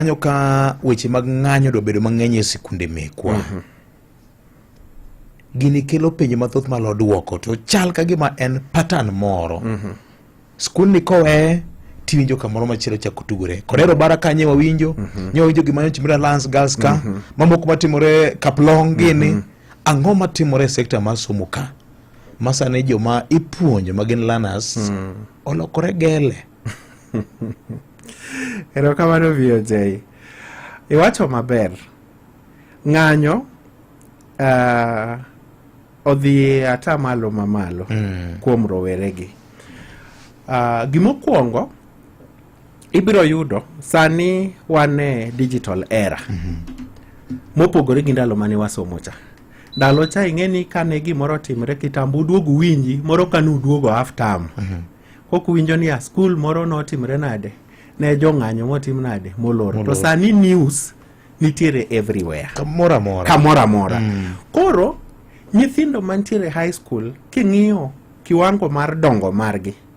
kanyo ka weche mag ng'anyo dobedo mang'eny e sikunde mekwa mm -hmm. gini kelo penjo mathoth malo dwoko to chal ka gima en patan moro mm -hmm. skundni kowe tiwinjo kamoro machielo chako tugore korero bara kanye wawinjo mm -hmm. nyowinjo gima nyochimre lance girls ka mm -hmm. mamoko matimore kaplong gini mm -hmm. ang'o matimore e sekta mar somo ka masani joma ipuonjo ma gin learners mm -hmm. olokore gele erokamano VOJ iwacho maber ng'anyo uh, odhi ata malo mamalo mm. kuom roweregi uh, gimokwongo ibiro yudo sani wane digital era mm -hmm. mopogore gi ndalo mane wasomo cha ndalo cha ing'e ni kane gimoro otimre kitambo uduogu winji moro kane uduogo half term mm -hmm. kok winjo ni a skul moro notimre nade ne jong'anyo motim nade molor to sani news nitiere everywhere kamoro amora kamoro amora mm. koro nyithindo mantiere high school king'iyo kiwango mar dongo margi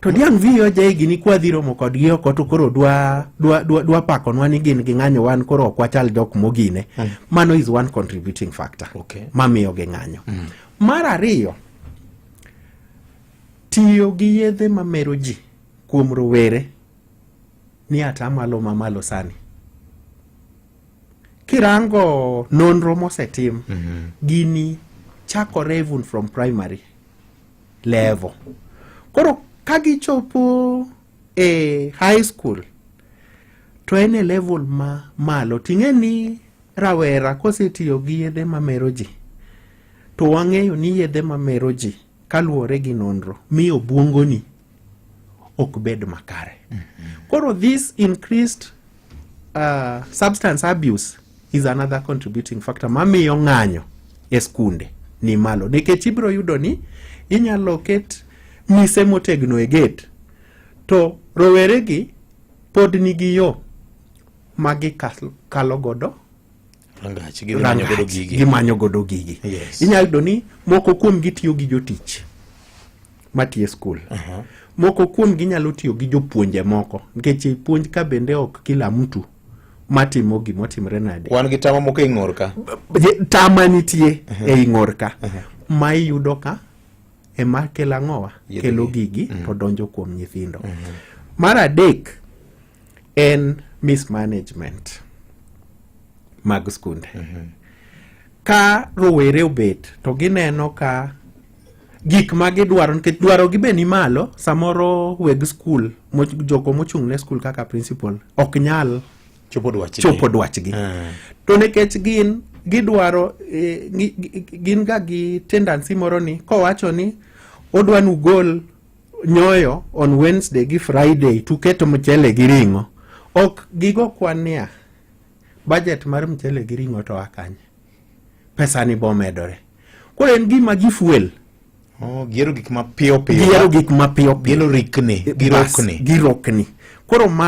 To diang' viyo jaigi ni kwadhi romo kodgi oko to koro dwa dwa dwa, dwa pakonwa ni gin ging'anyo wan koro ok wachal jok mogine. Mm. Mano is one contributing factor. Okay. Mamiyo ging'anyo. Mm. Mar ariyo tiyo gi yedhe mamero ji kuom rowere ni atamalo mamalo sani kirango nonro mosetim mm -hmm. gini chakore even from primary level koro ka gichopo e high school to en e level ma malo ting'e ni rawera kosetiyo gi yedhe mamero ji to wang'eyo ni yedhe mamero ji kaluwore gi nonro miyo obwongoni ok bed makare. Mm -hmm. Koro this increased uh, substance abuse is another contributing factor mamiyo ng'anyo e skunde ni malo nikech ibiro yudo ni inyalo ket mise motegno e gate to roweregi pod nigi yo ma gikalo godo rangach gimanyo godo gigi yes. inyalo yudo ni moko kuom gitiyo gi jotich matiye skul uh -huh. moko kuom ginyalo tiyo gi jopuonje moko nikech puonj ka bende ok kila mtu matimo gima otimre nade wan gi tama moko e ing'or ka tama nitie uh -huh. e ing'or ka uh -huh. ma iyudo ka ema kelo ang'owa kelo gigi mm -hmm. to donjo kuom nyithindo mm -hmm. mar adek en mismanagement mag skunde mm -hmm. ka rowere obet to gineno ka gik ma gidwaro nikech dwarogi be ni malo samoro weg skul jogo mochung' ne skul kaka principal ok nyal chopo dwachgi, chopo dwachgi. Mm. to nikech gin gidwaro eh, gin ga gi tendency moro ni kowacho ni odwa nugol nyoyo on Wednesday gi Friday tuketo mchele gi ring'o. Ok gigo kwania budget mar mchele gi ring'o to akanye. Pesa ni bomedore. Koro en gima gi fuel. Oh, gero gik mapiyo piyo. Gero gik mapiyo piyo. Gero rikni, girokni. Girokni. Koro ma